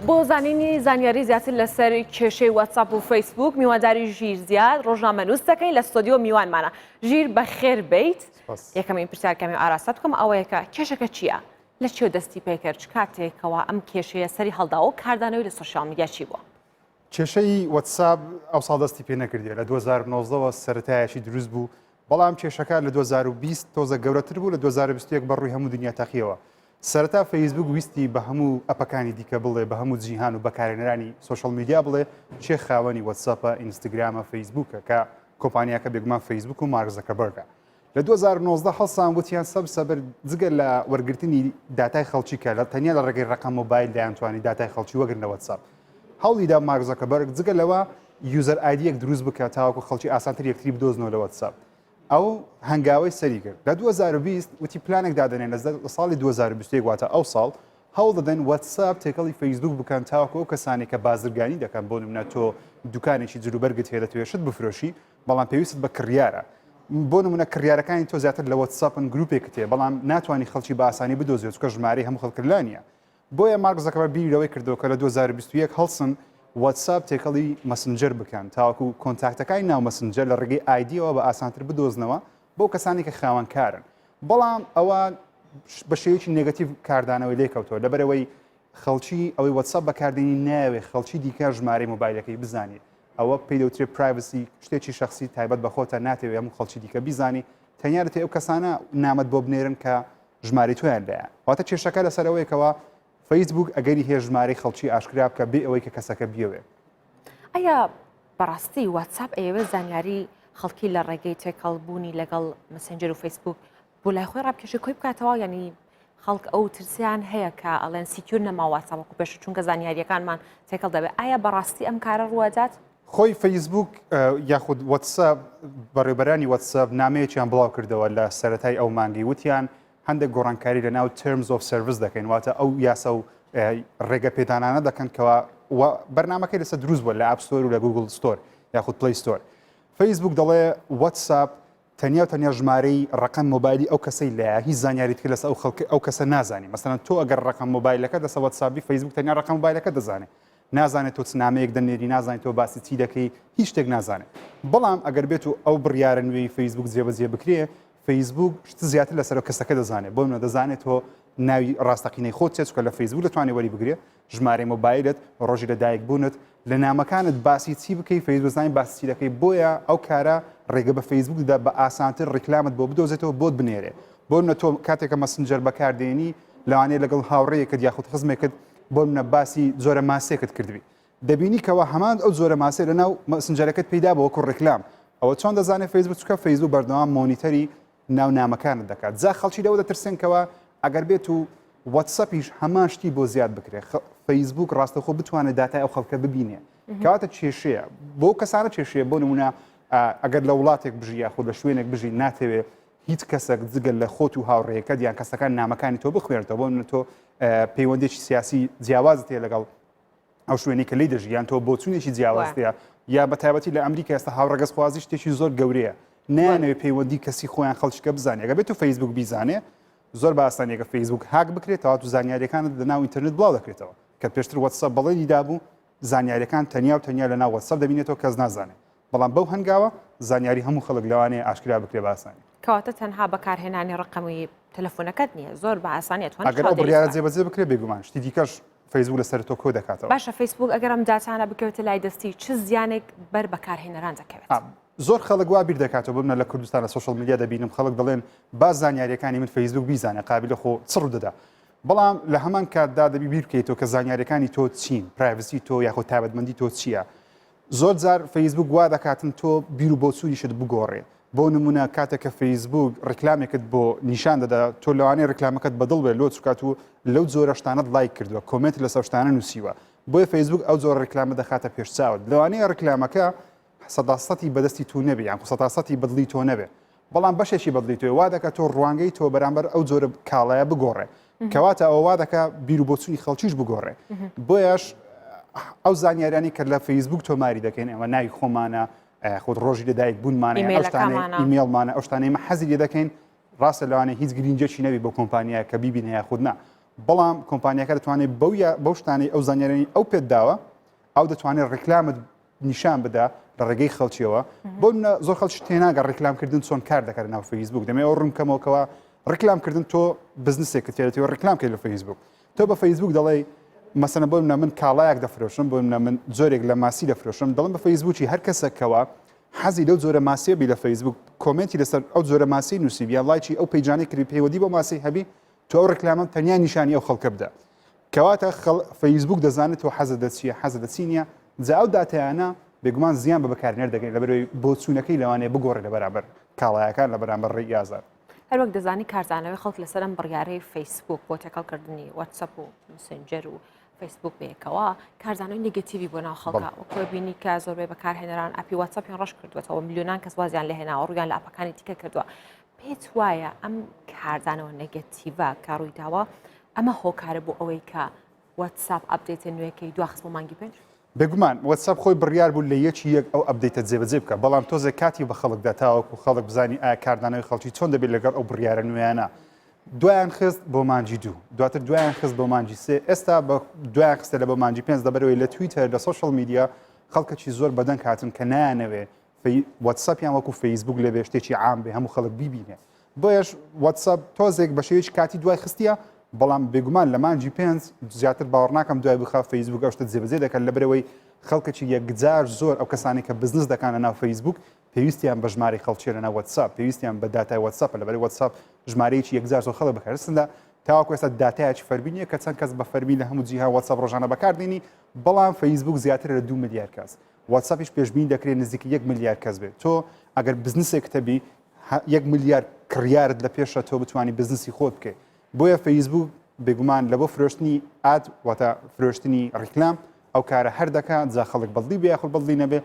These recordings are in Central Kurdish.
بۆ زانینی زانیاری زیاتر لەسەر کێشەی واتساپ و فەیسبوک میواداری ژیر زیاد ڕۆژنامەنووس دەکەین لە ستۆدیۆ میوانمانە ژیر بە خێر بیت یەکەمین پرسیارکەمی ئاراستە بکەم ئەوەیەکە کێشەکە چییە؟ لە چێ دەستی پێکرد کاتێکەوە ئەم کێشەیە سەری هەڵداوە کاردانەوەی لە سوۆشال میدیا چی بووە؟ کێشەی وەتساب ئەوساڵ دەستی پێ نەکردێ لە 2019 وە سەرتایەکی دروست بوو بەڵام کێشەکە لە 2020 تۆزە گەورەتر بوو لە 2021 بە ڕووی هەموو دنیا تەقیەوە سەرەتا فەیسبوک ویستی بە هەموو ئەپەکانی دیکە بڵێ بە هەموو جیهان و بەکارێنەرانی سوۆشل میدیا بڵێ چێ خاوەنی وەتساپە ئینستاگرامە فەیسبوکە کە کۆمپانیاکە بێگومان فەیسبوک و مارزەکە بەرگە لە دوو هەزار و نۆزدە هەڵسان وتیان سەب سەبر جگە لە وەرگرتنی داتای خەڵکی کە لە تەنیا لە ڕێگەی ڕقە مۆبایل دەیانتوانی داتای خەڵکی وەگرن لە وەتساپ هەوڵیدا مارک زەکەبەرگ جگە لەوە یوزەر ئایدیەک دروست بکە تاوەکو خەڵکی ئاسانتر یەکتری بدۆزنەوە لە وەتساپ ئەو هەنگاوەی سەری کرد لە 2020 وتی پلانێک دادنێن لە ساڵی 2021 واتە ئەو ساڵ هەوڵ دەدەن وەتساپ تێکەڵی فەیسبوک بکەن تاوەکو ئەو کەسانی کە بازرگانی دەکەن بۆ نمونە تۆ دوکانێکی جلوبەرگت هەیە دەتوێشت بفرۆشی بەڵام پێویستت بە کڕیارە. بۆ نموونە کڕیارەکانی تۆ زیاتر لە وەتسئەپن گرووپێکت هەیە بەڵام ناتوانی خەڵکی بە ئاسانی بدۆزیەوە چونکە ژمارەی هەموو خەڵکت لا نییە. بۆیە مارک زەکەبەر بیری لەوەی کردەوە کە لە دوو هەزار و بیست و یەک هەڵسن وەتسئەپ تێکەڵی مەسنجەر بکەن تاوەکو کۆنتاکتەکانی ناو مەسنجەر لە ڕێگەی ئایدییەوە بە ئاسانتر بدۆزنەوە بۆ کەسانی کە خاوەن کارن بەڵام ئەوە بە شێوەیەکی نێگەتیڤ کاردانەوەی لێکەوتەوە لەبەرئەوەی خەڵکی ئەوەی وەتسەپ بەکاردێنی نایەوێ خەڵکی دیکە ژمارەی مۆبایلەکەی بزانێ ئەوە پێی دەوترێ پرایڤسی شتێکی شەخسی تایبەت بە خۆتە ناتەوێ هەموو خەڵکی دیکە بیزانی تەنیا دەتێ ئەو کەسانە نامەت بۆ بنێرن کە ژماری تۆیان لایە واتە کێشەکە لەسەر ئەوەیە کەەوە فەیسبوک ئەگەری هەیە ژمارەی خەڵکی ئاشکرا بکە بێ ئەوەی کە کەسەکە بیەوێ ئەیا بەڕاستی واتساپ ئەیەوێ زانیاری خەڵکی لە ڕێگەی تێکەڵبوونی لەگەڵ مسنجەر و فەیسبوک بۆ لای خۆی ڕابکێشێ کۆی بکاتەوە یعنی خەڵک ئەو ترسیان هەیە کە ئەڵێن سیکیور نەماواتە وەکو پێش چونکە زانیاریەکانمان تێکەڵ دەبێت ئایا بەڕاستی ئەم کارە ڕوادات خۆی فەیسبوک یاخود وەتساب بەڕێبەرانی وەتساب نامەیەکیان بڵاو کردەوە لە سەتای ئەو مانگی وتیان هەندێک گۆڕانکاری لە ناو ترمز و سرویس دەکەین واتە ئەو یاسا و ڕێگە پێدانانە دەکەن کەوا بەرنمەکەی لەسەر دروست بووە لە ئاپستۆر و لە گوگل ستۆر یاخود پلیستۆر فەیسبوک دەڵێ وەتساب تەنیا و تەنیا ژمارەی ڕەقەم مۆبایلی ئەو کەسەی لایە هیچ زانیاری تری لەسە ئەو خەڵکە ئەو کەسە نازانی مەسەلەن تۆ ئەگەر ڕەقەم مۆبایلەکەت لەسە وەتسابی فەیسبوک تەنیا ڕەقەم مۆبایلەکەت دەزانێ نازانێ تۆ چ نامەیەک دەنێری نازانی تۆ باسی چی دەکەی هیچ شتێک نازانێ بەڵام ئەگەر بێت و ئەو بڕیارە نوێی فەیسبوک جێبەجێ بکرێ فەیسبوک شت زیاتر لەسەر ئەو کەسەکە دەزانێ بۆ منە دەزانێ تۆ ناوی ڕاستەقینەی خۆت چیە چونکە لە فەیسبوک دەتوانێ وەری بگرێ ژمارەی مۆبایلت ڕۆژی لە دایک بوونت لە نامەکانت باسی چی بکەی فەیسبوک زانین باسی چی دەکەی بۆیە ئەو کارە ڕێگە بە فەیسبوک دەدا بە ئاسانتر ڕیکلامت بۆ بدۆزێتەوە بۆت بنێرێ بۆ منە تۆ کاتێکە مەسنجەر بەکاردێنی لەوانەیە لەگەڵ هاوڕێیەکت یاخود خزمێکت بۆ منە باسی جۆرە ماسێکت کردبی دەبینی کەەوە هەمان ئەو جۆرە ماسێ لە ناو مەسنجەرەکەت پیدا بۆ وەکو ڕیکلام ئەوە چۆن دەزانێت فەیسبوک چکە فەیسبوک بەردەوام مۆنیتەری ناو نامەکانت دەکات جا خەڵکی لەوە دەترسێن کەوا ئەگەر بێت و وەتسەپیش هەمان شتی بۆ زیاد بکرێ فەیسبوک ڕاستەخۆ بتوانێت داتای ئەو خەڵکە ببینێ کاتە کێشەیە بۆ کەسانە کێشەیە بۆ نمونە ئەگەر لە وڵاتێک بژی یاخود لە شوێنێک بژی ناتەوێت هیچ کەسێک جگەل لە خۆت و هاوڕێەکە دیان کەسەکان نامەکانی تۆ بخوێنێتەوە بۆ تۆ پەیوەندێکی سیاسی جیاوازت هەیە لەگەڵ ئەو شوێنی کە لی دەژی یان تۆ بۆچونێکی جیاوازەیە یا بە تایبەتی لە ئەمریکا ئێستا هاوڕگەز خوازی شتێکی زۆر گەورەیە نانەوێت پەیوەندی کەسی خۆیان خەڵچکە بزانێگە بێت و فەیسبوک بیزانێ زۆر باسانێکە فەیسبوک هاک بکرێتەوە تو زانیاریەکانت لە ناو ئینتررنت بڵاو دەکرێتەوە کە پێشتر وەسە بەڵێنی دابوو زانیاریەکان تەنیا و تەنیا لە ناو وەسەر دەبینێتەوە کەس نازانێت بەڵام بەو هەنگاوە زانیاری هەموو خەڵک لەوانەیە ئاشکرا بکرێ بە ئاسانی. کەواتە تەنها بەکارهێنانی ڕەقەمی تەلەفونەکەت نییە زۆر بە ئاسانی ئەتوانیت ئەگەر ئەو چاودێریش بڕیارە بکات. جێبەجێ بکرێ بێگومان شتی دیکەش فەیسبووک لەسەر تۆ کۆ دەکاتەوە. باشە فەیسبووک ئەگەر ئەم داتانە بکەوێتە لای دەستی چ زیانێک بەر بەکارهێنەران دەکەوێت؟ ئا زۆر خەڵک وا بیر دەکاتەوە ببنە لە کوردستان لە سۆشیال میدیا دەبینم خەڵک دەڵێن با زانیارییەکانی من فەیسبووک بیزانێ قابیلە خۆ چ ڕوو دەدا بەڵام لە هەمان کاتدا دەبی بیر بکەیتەوە کە زانیارییەکانی تۆ چین پرایڤسی تۆ یاخۆ تایبەتمەندی تۆ چییە زۆر جار فەیسبووک وا دەکاتن تۆ بیر و بۆچوونیشت بگۆڕێ، بۆ نموونە کاتێک کە فەیسبووک ڕیکلامێکت بۆ نیشان دەدا تۆ لەوانەیە ڕیکلامەکەت بەدڵ بێت لۆ چکات و لەو جۆرە شتانەت لایک کردووە کۆمێنت لەسەو شتانە نووسیوە بۆیە فەیسبووک ئەو جۆرە ڕیکلامە دەخاتە پێش چاوت لەوانەیە ڕیکلامەکە سەدا سەتی بەدەستی تو نەبێ یان سەدا سەتی بەدڵی تۆ نەبێ بەڵام بەشێکی بەدڵی تۆی وا دەکا تۆ ڕوانگەی تۆ بەرامبەر ئەو جۆرە کاڵایە بگۆڕێ کەواتە ئەوە وا دەکا بیر و بۆچوونی خەڵکیش بگۆڕێ بۆیەش ئەو زانیاریانی کە لە فەیسبوک تۆماری دەکەین ئەوە ناوی خۆمانە خۆت ڕۆژی لەدایک بوونمانە ئەو شتانە ئیمێڵمانە ئەو شتانەی مە حەزی لێ دەکەین ڕاستە لەوانێ هیچ گرینجێکی نەوی بۆ کۆمپانیا کە بیبینە یاخودنا بەڵام کۆمپانیەکە دەتوانێت بەو بەو شتانەی ئەو زانیارانی ئەو پێت داوە ئەو دەتوانێت ڕیکلامت نیشان بدا لە ڕێگەی خەڵکیەوە بۆ منە زۆر خەڵکی تێناگە ڕیکلامکردن چۆن کار دەکەن ناو فەیسبوک دەمێ ئەو ڕوونکەمەوەکەوە ڕیکلامکردن تۆ بزنسێکە تێرەوە ڕیکلام کرد لە فەیسبوک تۆ بە فەیسبوک دەڵێ مەسەنە بۆ منە من کاڵایەک دەفرۆشم بۆ منە من زۆرێک لە ماسی دەفرۆشم دەڵم بە فەیسبوکی هەر کەسەکەەوە حەزی لەو زۆرە ماسیێبی لە فەیسبوک کۆمنتی لەسەر ئەو زۆرە ماسی نووسیبیە لایکی ئەو پیجانانی کری پێوەدی بۆ ماسی هەبی تۆ ئەو ڕکلامەم تەنیا نیشانی ئەو خەڵکە بدە کەواتە فەیسبوک دەزانێت تۆ حەزە دەچیە حەزە دەچی نیە جا ئەو دااتیانە بێگومان زیان بە بەکارنێر دەگەین لە بەرەوەی بۆچوونەکەی لەوانێ بگۆڕێ لە بەرامبەر کاڵایەکان لە بەرامبەر ڕێ یازار هەروەک دەزانی کارزانەوەی خەڵک لەسەرم بڕیارەی فەیسبوک بۆ تێکەڵکردنی وەتسەپ و مسنجەر و فەیسبوک بەیەکەوە کارزانەوەی نگەتیوی بۆ ناو خەڵکە وەکۆ بینی کە زۆربەی بەکارهێنەران ئەپی وەتسەپیان ڕش کردوێتەوە میلیۆنان کەس وازیان لە هێناوە ڕویان لە ئەپەکانی تیکە کردووە پێت وایە ئەم کاردانەوە نەگەتیڤە کە ڕوویداوە ئەمە هۆکارە بۆ ئەوەی کە واتساپ ئەپدێتە نوێەکەی دواخست بۆ مانگی پێنج بێگومان واتساپ خۆی بڕیار بوو لە یەکی یەک ئەو ئەپدەیتە جێبەجێ بکە بەڵام تۆزێک کاتی بە خەڵکدا تاوەکو خەڵک بزانی ئایا کاردانەوەی خەڵکی چۆن دەبێت لەگەڵ ئەو بڕیارە نوێیانە دوایان خست بۆ مانجی دوو دواتر دوایان خست بۆ مانجی سێ ئێستا بە دوایان خستە لە بە مانجی پێنج دەبەرەوەی لە تویتەر لە سوۆشل میدیا خەڵکەکی زۆر بەدەنگ هاتن کە نایانەوێ وەتسەپیان وەکو فەیسبوک لەبێ شتێکی عام بێ هەموو خەڵک بیبینێ بۆیش وەتسەپ تۆزێک بە شێوەیەکی کاتی دوای خستە بەڵام بێگومان لە مانجی پێنج زیاتر باوەڕناکەم دوای بخە فەیسبوک ئەوشتە جێبەجێ دەکەن لە برەوەی خەڵکەکی یەکجار زۆر ئەو کەسانی کە بزنس دەکانە ناو فەیسبوک پێویستیان بە ژماری خەڵکیێنە ناو وەتساپ پێویستیان بە داتای وەتساپ لەبەر وەتساپ ژمارەیەکی یەکجار زۆر خەڵک بکەرسندا تاوەکو ئێستا داتایکی فەرمینیە کە چەند کەس بە فەرمی لە هەموو جیها وەتساپ ڕۆژانە بەکاردێنی بەڵام فەیسبوک زیاتر لە دو ملیار کەس واتساپیش پێشبینی دەکرێت نزیکەی یەک ملیار کەس بێت تۆ ئەگەر بزنسێکتە بی یەک ملیار کڕیارت لە پێشە تۆ بتانی بزنسی خۆت بکەیت بۆیە فەیسبوک بێگومان لە بۆ فرۆشتنی ئات واتە فرۆشتنی ڕیکلام ئەو کارە هەر دەکات جا خەڵک بەڵدی بێ خۆ بەڵدی نەبێ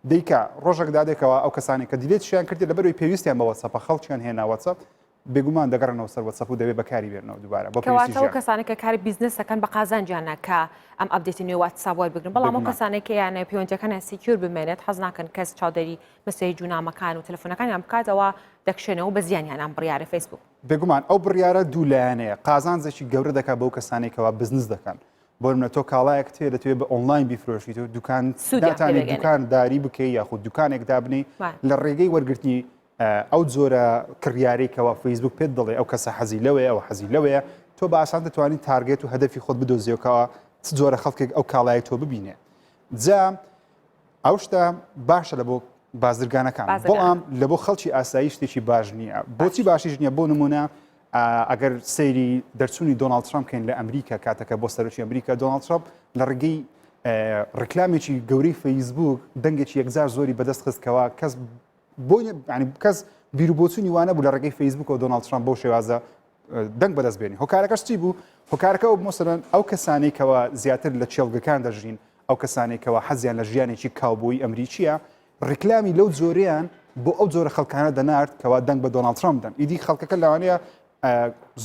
دیکە ڕۆژێک دادێکەوە ئەو کەسانی کە دیلێتشیان کردی لە بەروی پێویستیان بەوە سەپە خەڵکیان هێناوەسە بێگومان دەگەڕێنەوە سەر وەتسەپ و دەبێ بەکاری بێنەوە دووبارە بۆ پێویستی کەواتە ئەو ژیان. کەسانە کە کاری بیزنس دەکەن بە قازانجیانە کە ئەم ئەپدێتی نوێ واتساپ وەربگرن بەڵام ئەو بێگومان. کەسانەی کە یانە پەیوەندیەکانیان سیکیور بمێنێت حەز ناکەن کەس چاودێری مەسێج و نامەکان و تەلەفۆنەکانیان بکات ئەوا دەکشێنەوە بە زیانیان ئەم بڕیارە فەیسبووک. بێگومان ئەو بڕیارە دوو لایەنەیە قازانجێکی گەورە دەکات بەو کەسانەی کەوا بزنس دەکەن بۆ نمونە تۆ کاڵایەکت هەیە دەتەوێت بە ئۆنلاین بیفرۆشیت و دوکان سوودیان پێ داتانێت دەگەێنێت دوکانداری بکەی یاخود دوکانێک دابنێی بەڵێ. لە ڕێگەی وەرگرتنی ئەو جۆرە کڕیارەی کەوا فەیسبوک پێت دەڵێ ئەو کەسە حەزی لەوەیە ئەو حەزی لەوەیە تۆ بە ئاسان دەتوانانی تارگێت و هەدەفی خۆت بدۆزیەوەکەوە چ جۆرە خەڵکێک ئەو کاڵای تۆ ببینێ جا ئەو شتە باشە لە بۆ بازرگانەکان بەڵام لە بۆ خەڵکی ئاسایی شتێکی باش نییە بۆچی باشیش نییە بۆ نمونە ئەگەر سەیری دەرچوونی دۆناڵد ترامپ کەین لە ئەمریکا کاتەکە بۆ سەرۆکی ئەمریکا دۆناڵد ترامپ لە ڕگەی ڕکلامێکی گەورەی فەیسبوک دەنگێکی یەکجار زۆری بەدەست خستکەوە کەس بۆی ینی کەس بیرروبۆچوونی وانە بوو لە ڕێگەی فەیسبوک و دۆناڵد ترامپ بۆ شێوازە دەنگ بەدەست بێنی هۆکارەکەش چی بوو هۆکارەکە ئەو مۆسەرەن ئەو کەسانێکەوە زیاتر لە چێلگەکان دەژین ئەو کەسانێکەوە حەزیان لە ژیانێکی کاوبۆی ئەمریکیە ڕیکلامی لەو جۆریان بۆ ئەو جۆرە خەڵکانە دەنارد کەوا دەنگ بە دۆناڵ ترامپ دەن ئیدی خەڵکەکە لەوانەیە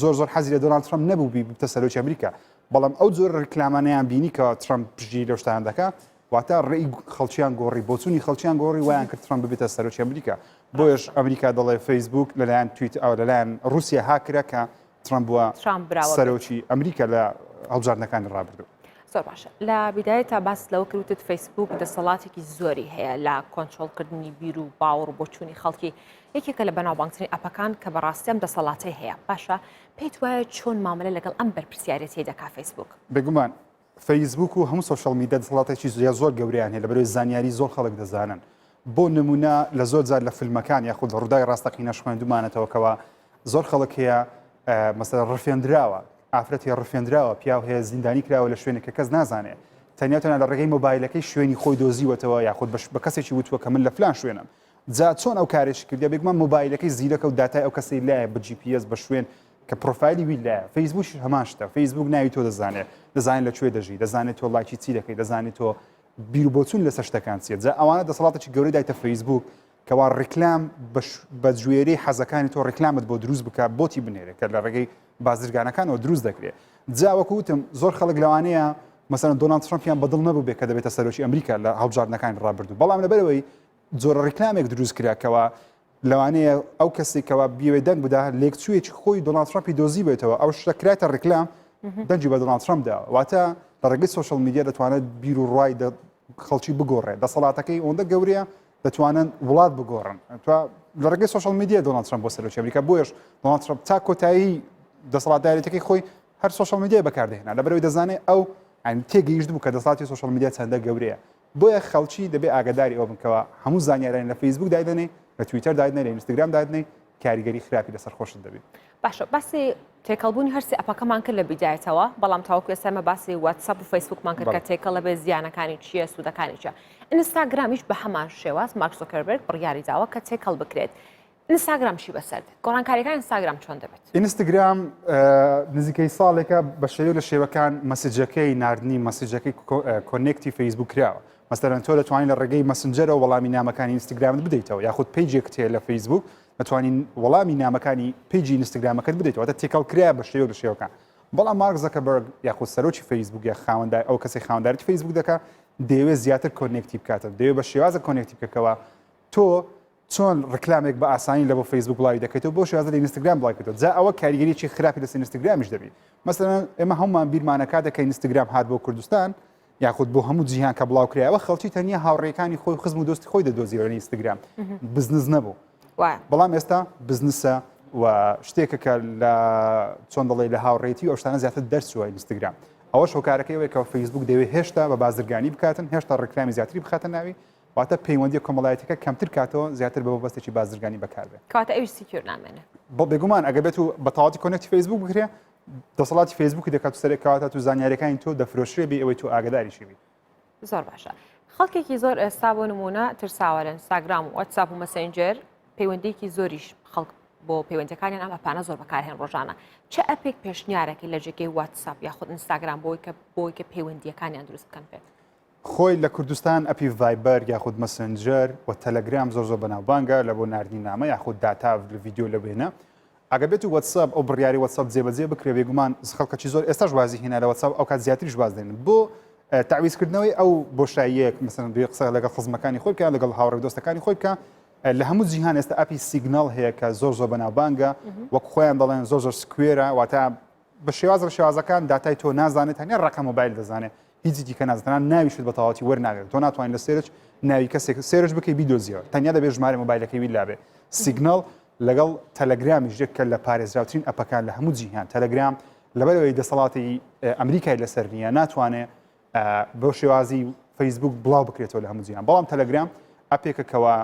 زۆر زۆر حەزی لە دۆناڵ ترامپ نەبوو بی بتە سەرۆکی ئەمریکا بەڵام ئەو جۆر ڕیکلامانیان بینی کە ترامپ پژی لەشتان دەکە واتە ڕێی خەڵکیان گۆڕی بۆچوونی خەڵکیان گۆڕی وایان کرد ترامپ ببێتە سەرۆکی ئەمریکا بۆیش ئەمریکا دەڵێ فەیسبوک لەلایەن تویت ئەو لەلایەن رووسیا هاکرا کە ترامپ بووە ترامپ براوە سەرۆکی ئەمریکا لە هەڵبژاردنەکانی ڕابردوو زۆر باشە لە بیدایە تا باس لەوە کروتت فەیسبوک دەسەڵاتێکی زۆری هەیە لە کۆنتترۆلکردنی بیر و باوەڕ و بۆچوونی خەڵکی یەکێکە لە بەناوبانگترین ئەپەکان کە بەڕاستیان دەسەڵاتی هەیە باشە پێیت وایە چۆن مامەلە لەگەڵ ئەم بەرپسیارەتی دەکا فەیسبوک بێگومان فەیسبووک و هەموو سۆشیاڵ میدیا دەسەڵاتێکی زۆر زۆر گەورەیان هەیە لەبەرەوەی زانیاری زۆر خەڵک دەزانن بۆ نمونە لە زۆر جار لە فیلمەکان یاخود لە ڕووداوی ڕاستەقینەش خوێندومانەتەوە کەەوە زۆر خەڵک هەیە مەسەر ڕفێنراوە ئافرەتی ڕفێنراوە پیاو هەیە زیندانی کراوە لە شوێنێک کە کەس نازانێ تەنیا تەنە لە ڕێگەی مۆبایلەکەی شوێنی خۆی دۆزیوەتەوە یاخود بەش بە کەسێکی وتووە کە من لە فلان شوێنم جا چۆن ئەو کارێش کردیا بێگومان مۆبایلەکەی زیرەکە و داتای ئەو کەسی لایە بە جی پیس بە شوێن کە پرۆفایلی ویت لایە فەیسبووکیش هەمان شتە فەیسبووک ناوی تۆ دەزانێت دەزانێت لە کوێ دەژی دەزانێت تۆ ڵاکی چی دەکەی دەزانێت تۆ بیر بۆچون لەسەر شتەکان چیە جا ئەوانە دەسەڵاتێکی گەورەی دایتە فەیسبووک کەوا ڕیکلام بە جوێری حەزەکانی تۆ ڕیکلامت بۆ دروست بکە بۆتی بنێرێت کە لە ڕێگەی بازرگانەکانەوە دروست دەکرێت جاوەکو وتم زۆر خەڵک لەوانەیە مەسەن دۆناڵد ترامپیان بەدڵ نەبوو بێ کە دەبێتە سەرۆکی ئەمریکا لە هەڵبژاردنەکانی ڕابردوو بەڵام لەبەرەوەی جۆرە ڕیکلامێک دروست کراکەوە لەوانەیە ئەو کەسی کەوا بیوێ دەنگ بدا لێکچوویەکی خۆی دۆناڵد ترامپی دۆزیبێتەوە ئەو شتە کراتە ڕیکلام دەنگی بە دۆناڵد ترامپ دا واتە لە ڕێگەی سوشل میدیا دەتوانێت بیر و ڕای خەڵکی بگۆڕێت دەسەڵاتەکەی ئەوەندە گەورەیە دەتوانن وڵات بگۆڕن تو لە ڕێگەی سوشل میدیا دۆناڵد ترامپ بۆ سەرۆکی ئەمریکا بۆیش دۆناڵد ترامپ تا کۆتایی دەسەڵاتدارێتەکەی خۆی هەر سوشل میدیا بەکاردێنا لەبەرەوەی دەزانێت ئەو ئەن تێگەیشت بوو کە دەسڵاتی سوشل میدیا چەندە گەورەیە بۆیە خەڵکی دەبێ ئاگاداری ئەوە بن کەوا هەموو زانیاریان لە فەیسبووک دایدەنێی، لە تویتەر دایدنێی، لە ئینستاگرام دایدنێی کاریگەری خراپی لەسەر خۆشت دەبێ. باشە باسی تێکەڵبوونی هەر سێ ئەپەکەمان کرد لە بیدایەتەوە، بەڵام تاوەکو ئێستا ئێمە باسی واتسەپ و فەیسبووکمان کرد کە بەڵێ. تێکەڵ دەبێ زیانەکانی چییە سوودەکانی چییە؟ ئینستاگرامیش بە هەمان شێواز مارک زۆکەربێرگ بڕیاری داوە کە تێکەڵ بکرێت. ئینستاگرام چی بەسەرد؟ گۆڕانکاریەکان ئینستاگرام چۆن دەبێت؟ ئینستاگرام نزیکەی ساڵێکە بە شێوە لە شێوەکان مەسجەکەی نردنی مەسجەکەی کۆنێکتی فەیسبوو کراوە مەسەرەن تۆ دەتوانین لە ڕێگەی مەسنجەرە وەڵامی نامەکانی ئینستاگرامت بدەیتەوە یاخود پیجێک تێ لە فەیسبوک دەتوانین وەڵامی نامەکانی پیجی ئینستاگرامەکەت بدەیتەوە دە تێکەڵ کرا بە شێوە لە شێوەکان بەڵام مارک زەکەبەرگ یاخود سەرۆکی فەیسبوک یا خاوەندای ئەو کەسی خاوەندارێتی فەیسبوک دەکە دەیەوێت زیاتر کۆنێکتی بکاتە دەوێت بە شێوازە کۆنێکتی بکەکەوە تۆ چۆن ڕیکلامێک بە ئاسانی لە بۆ فەیسبوک بڵاوی دەکەیتەوە بۆ شێوازە لە ئینستاگرام بڵاوی کردەوە جا ئەوە کاریگەریی خراپی لەسەر ئینستاگرامیش دەبی مەسەلەن ئێمە هەموومان بیرمانە کاتێک کە ئینستاگرام هات بۆ کوردستان یاخود بۆ هەموو جیهان کە بڵاو کرایەوە خەڵکی تەنیا هاوڕێکانی خۆی خزم و دۆستی خۆی دەدۆزیەوە لە ئینستاگرام بزنس نەبوو بەڵام ئێستا بزنسە و شتێکە کە لە چۆن دەڵێ لە هاوڕێتی و ئەوشتانە زیاتر دەرچووە ئینستاگرام ئەوە شۆکارەکەی وەیکەوە فەیسبوک دەوێت هێشتا بە بازرگانی بکاتن هێشتا ڕکرامی زیاتری بخاتە ناوی واتە پەیوەندیە کۆمەڵایەتیەکە کەمتر کاتەوە زیاتر بە مەبەستێکی بازرگانی بەکار بێ. کەواتە ئەویش سیکیۆر نامێنێ. بە بێگومان ئەگەر بێت و بە تەواوەتی کۆنێکتی فەیسبووک بکرێ دەسەڵاتی فەیسبووکی دەکات و سەرێک کەواتە تو زانیاریەکانی تۆ دەفرۆشرێ بێ ئەوەی تۆ ئاگداریشی بیت. زۆر باشە. خەڵکێکی زۆر ئێستا بۆ نمونە ترساوە لە ئینستاگرام و وەتساپ و مەسەنجەر پەیوەندیکی زۆریش خەڵک بۆ پەیوەندەکانیان ئەم ئەپانە زۆر بەکارهێن ڕۆژانە چه ئەپێک پێشنیارەکەی لە جێگەی واتساپ یاخود ئینستاگرام بۆی کە بۆی کە پەیوەندیەکانیان دروست بکەن پێت خۆی لە کوردستان ئەپی ڤایبەر یاخود مەسنجەر و تەلەگرام زۆر زۆر بەناوبانگە لە بۆ ناردنی نامە یاخود داتا لە ڤیدیۆ لە وێنە ئەگەبێت و وەتسەپ ئەو بڕیاری وەتسەپ جێبەجێ بکرێ بێگومان خەڵکەکی زۆر ئێستاش وازی هێنا لە وەتسەپ ئەو کات زیاتریش باز دێنن بۆ تعویزکردنەوەی ئەو بۆشاییەک مثلەن دوێ قسە لەگەڵ خزمەکانی خۆی بکە لەگەڵ هاوڕێ دۆستەکانی خۆی بکە لە هەموو جیهان ئێستا ئەپی سیگنال هەیە کە زۆر زۆر بەناوبانگە وەک خۆیان دەڵێن زۆر زۆر سکوێرە واتە بە شێواز لە شێوازەکان داتای تۆ نازانێت تەنیا ڕقە مۆبایل دەزانێت هیچی دیکە نازانان ناویشت بە تەواتی وەرناگرێت تۆ ناتوانین لە سێرچ ناوی کەسێک سێرش بکەی بیدۆزیەوە تەنیا دەبێت ژمارە مۆبایلەکەی وی لابێ سیگنال لەگەڵ تەلەگرامی ژێککە لە پارێزراوترین ئەپەکان لە هەموو جیهان تەلەگرام لەبەرەوەی دەسەڵاتی ئەمریکای لەسەر نیە ناتوانێت بۆ شێوازی فەیسبوک بڵاو بکرێتەوە لە هەموو جیان بەڵام تەلەگرام ئەپێکەکەەوە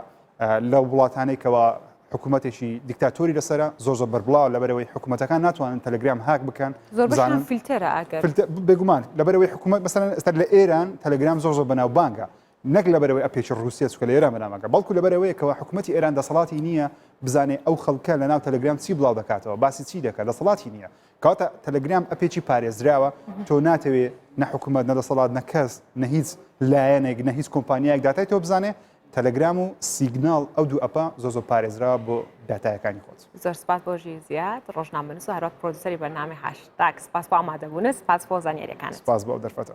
لە وڵاتانێکەوە حکوومەتێکی دیکتاتۆری لەسرە زۆ زۆ بەربڵاو لەبەرەوەی حکوومەتەکان ناتوانن تەلگرام هاک بکەن زۆرزانن فیلتەرە بێگومان لەبەرەوەی حکوومەت مەسەن ئێستا لە ئێران تەلگرام زۆر زۆر بەناو بانگە نەک لەبەرئەوەی ئەپێکی ڕووسیە چونکە لە ئێران بەنامەکە بەڵکو لەبەرئەوەیە کەوا حکومەتی ئێران دەسەڵاتی نییە بزانێ ئەو خەڵکە لەناو تەلەگرام چی بڵاو دەکاتەوە باسی چی دەکات دەسەڵاتی نییە کەواتە تەلەگرام ئەپێکی پارێزراوە تۆ ناتەوێ نە حکومەت نە دەسەڵات نە کەس نە هیچ لایەنێک نە هیچ کۆمپانیایەک داتای تۆ بزانێ تەلەگرام و سیگنال ئەو دوو ئەپە زۆ زۆ پارێزرا بۆ داتایەکانی خۆت زۆر سپاس بۆ ژیر زیاد ڕۆژنامەنووس و هەروەک پرۆدوسەری بەرنامی هاش تاک سپاس بۆ ئامادەبوونە سپاس بۆ زانیاریەکان سپاس بۆ دەرفەتە